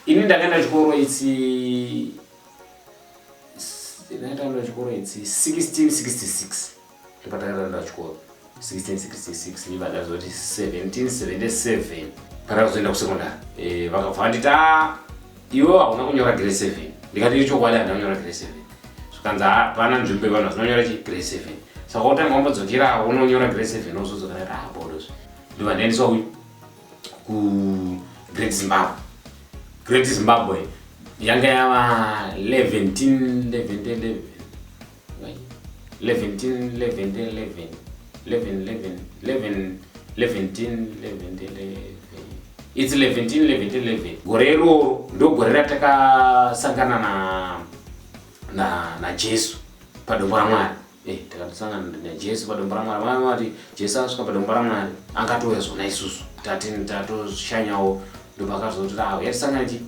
Ini ndakaenda chikoro itsi ndakaenda chikoro itsi 1666 ndipatakaenda chikoro 1666 ndiva ndazoti 1777 patakazoenda kusekondari eh, vakabva vanditi ah, iwe hauna kunyora grade 7 ndikati ichokwadi handina kunyora grade 7 zvikanzi hapana ah, nzvimbo yevanhu vazinonyora chi grade 7 saka utanga wambodzokera unonyora grade 7 ozodzokera kuti habodos ah, ndiva ndaendeswa uyu kugreat zimbabwe great zimbabwe yanga yava 11 its 11 gore iroro ndogore ratakasangana na na najesu padombo ramwari Eh, takatosangana naJesu padombo raMwari. Vamwe vati Jesu asvika padombo raMwari akatouya zvona isusu tati tatoshanyawo ndopakazotora awo yatisangana chi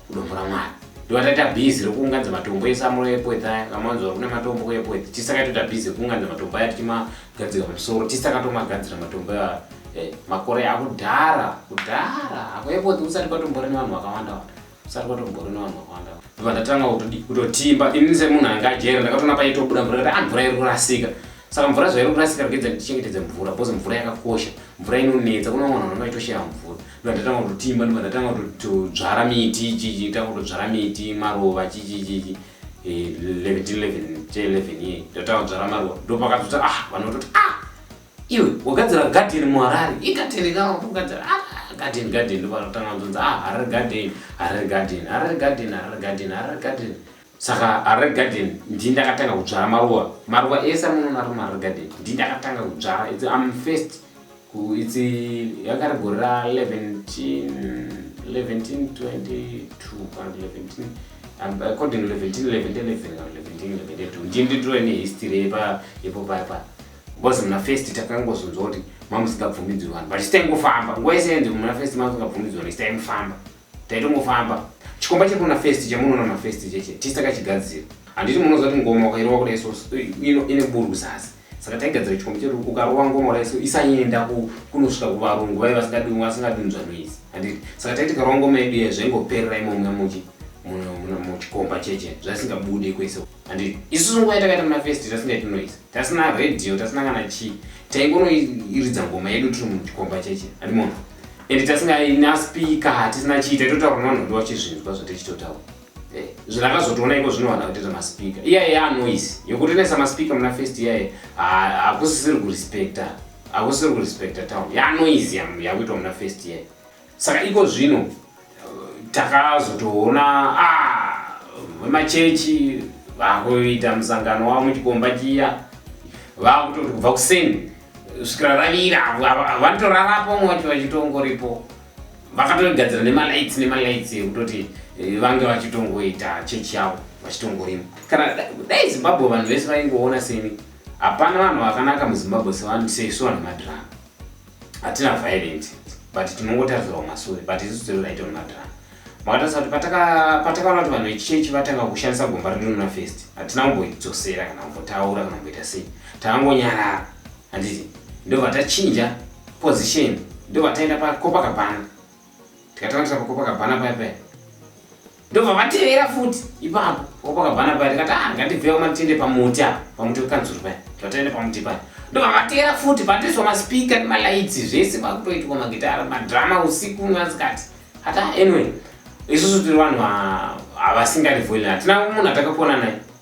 kudombo raMwari ndovataita bhizi rekuunganidza matombo ese amuro epweth aya kamanzwa kune matombo kuepweth tisakatoita bhizi rekuunganidza matombo aya tichimagadzika pamusoro tisakatomagadzira matombo aya eh, makore akudhara kudhara apo epweth kusati kwatombore nevanhu vakawanda wanda Saka kwatombori no vanhu vakawanda. Ndobva ndatanga kutodi kutotimba ini semunhu anga ajera ndakatoona paitobuda mvura kuti ah mvura iri kurasika. Saka mvura zvairi kurasika rikidza ndichengetedze mvura because mvura yakakosha. Mvura inonetsa kune vamwe vanhu vanenge vachitoshaya mvura. Ndobva ndatanga kutotimba ndobva ndatanga kutodzvara miti ichichi tanga kutodzvara miti maruva chichi chichi. Eh 11 11 11 ye. Ndatanga kudzvara maruva. Ndopakazoti ah vanhu vototi ah Iwe wagadzira garden muHarare, igarden kana kugadzira ah, garden garden ndovanotanga kuzonza ah Harare garden, Harare garden, Harare garden, Harare garden, Harare garden. Saka Harare garden ndini ndakatanga kudzvara maruva. Maruva ese amunoona ari muHarare garden ndini ndakatanga kudzvara. It's I'm first ku it's yanga ri gore ra 11 11 22 kana 11 um, according 11 11 11 11 11 ndini nditove nehistory yepa yepo paya paya. Because muna first takangozonzwa kuti mamusingabvumidzwi vanhu but sitai ngofamba nguva yese yenzi muna first mamusingabvumidzwi vanhu sitai mufamba taitongofamba chikomba chiri kuna first chamunoona muna first cheche tisi takachigadzira handiti munoziva kuti ngoma ukairova kuda iso ine buru zasi saka taigadzira chikomba chedu ukarova ngoma uda iso isaenda kunosvika kuvarungu vaive vasingadunzwa noise handiti saka taiti karova ngoma yedu ye zvaingoperera imomuna muchi muchikomba cheche zvaisingabude kwese handiti isusu nguva yatakaita muna first zvasingaiti noise tasina radio tasina kana chii taingonoiridza ngoma yedu tiri muchikomba cheche andimona and tasingaina speaker hatisina chii taitotaura nevanhu vedu vachizvinzwa zvatichitotaura eh, zvinakazotoona iko zvinowana kutita maspeaker iyaye yanoise yokutenesa maspeaker muna first iyaye hakusisiri kurespecta hakusisiri kurespecta town yanoise yakuitwa muna first iyaye Saka iko zvino takazotoona ah, vemachechi vakuita musangano wavo muchikomba chiya vakutoti kubva kuseni svikira ravira vanotorarapo vamwe vacho vachitongoripo vakatogadzira nemalights nemalights ekutoti eh, vange vachitongoita chechi yavo vachitongorima kana dai zimbabwe vanhu vese vaingoona seni hapana vanhu vakanaka muzimbabwe sevanhu sesu vanhu madhirama hatina violent but tinongotarisira kumasure but isu zero raita mumadrama makatarisa kuti patakaona kuti vanhu vechichechi vatanga kushandisa gomba rinonona first hatina kumboidzosera kana kumbotaura kana kumboita sei takangonyarara handiti ndo vatachinja position ndo vataenda pakopa kabhana tikatanga kuita pakopa kabhana paya paya ndobva vatevera futi ipapo wapakabvana paya tikati ah ngandibvewo matende pamuti apa pamuti wekanzuru paya vatende pamuti paya ndobva vatevera futi patoiswa maspika nemalights zvese vakutoitwa magitara madrama usiku masikati hata anyway isusu tiri vanhu havasingadi voilin hatina munhu atakapona naye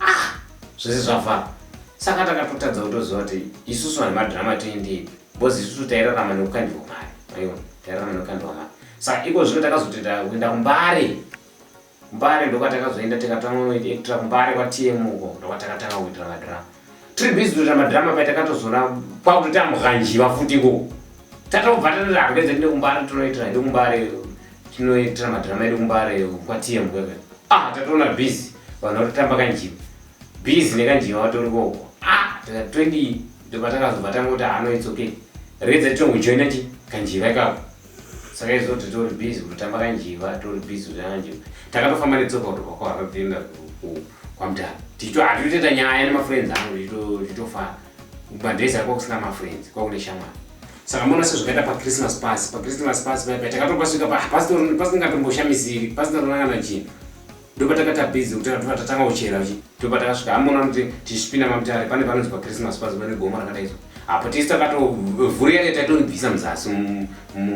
ah zvese zvafara saka takatotadza kutoziva kuti isusu vanhu madhirama toendei bcoz isusu tairarama nekukandirwa mari aiwa tairarama nekukandirwa mari saka iko zvino takazotoita kuenda kumbare kumbare ndokwatakazoenda tikatanga kunoita kumbare kwatm uko ndokwatakatanga kuitira madhirama tiri busy kutoita madrama paita katozona kwakutota mughanjiva futi ko tatobva tatoita handedze tine kumbare tinoitira hedu kumbare tinoitira madrama edu kumbare kwatiye mukwepe ah tatoona busy vanhu vatotamba kanjiva busy nekanjiva vatori koko ah tatoidi ndobva takazobva tangoti hano ah, it's okay redza titongojoina chi kanjiva ikako saka izvo titori busy kutotamba kanjiva tori busy kutotamba kanjiva takatofamba netsoka kutoka kwahava kuenda kwamutara tichito hatitoita nyaya nemafriends angu tichitofara madhays akwa kusina mafriends kwakune shamwari saka mona sezvakaita pachristmas pasi pachristmas pasi paipai takatopasvika pasingatomboshamiziri pasingatoona kana chinhu ndopatakata busy kutaura tobva tatanga kuchera uchi tobva takasvika amona kuti tichipinda mamutare pane panonzi pachristmas pazi pane gomo rakadaizwa apo tisi takatovhuri yake taitonibvisa muzasi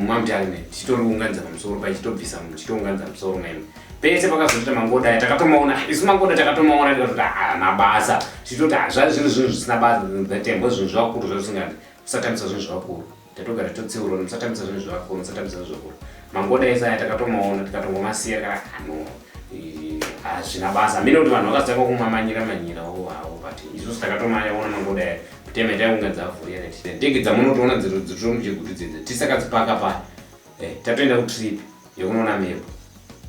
mamutare me tichitounganidza pamusoro pai chitobvisa chitounganidza musoro meme pese pakazoita mangoda aya takatomaona isu mangoda takatomaona tikatoti haana ah, basa tichitoti hazvai ah, zvinhu zvinhu zvisina basa zvatembo zvinhu zvavakuru zvazvisingadi kusatambisa zvinhu zvavakuru tatogara totseurwa musatambisa zvinhu zvevakuru musatambisa zvinhu zvevakuru mangona ese aya takatomaona tikatomomasiya kana hano hazvina basa mine kuti vanhu vakazitanga kumamanyira manyira wo havo but isusu takatomaona mangoda aya kutema itai kunga dzavhuya neti ndege dzamunotoona dzitiro mujegudzi dzedze tisakadzipaka paya eh, tatoenda kutrip yekunoona mhepo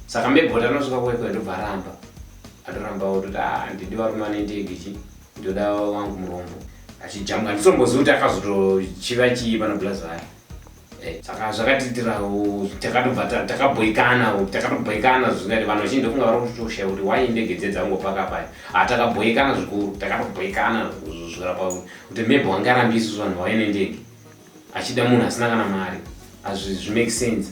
saka mhepo tanosvika kuekwe ndobva aramba atoramba ototi ah, ndidi varume vane ndege chii Ndoda wangu murombo achijambwa ndisomboziva kuti akazotochiva chii pana blazaya eh, saka zvakatiitirawo takatobva takabhoikana takatobhoikana zvingati vanhu vachinji ndofunga vari kutoshaya kuti wai ndege dze dzangopaka paya ha ah, takabhoikana zvikuru takatobhoikana zvikura pauri kuti maybe wangarambisi zvanhu waive nendege achida munhu asina kana mari hazvi zvimake sense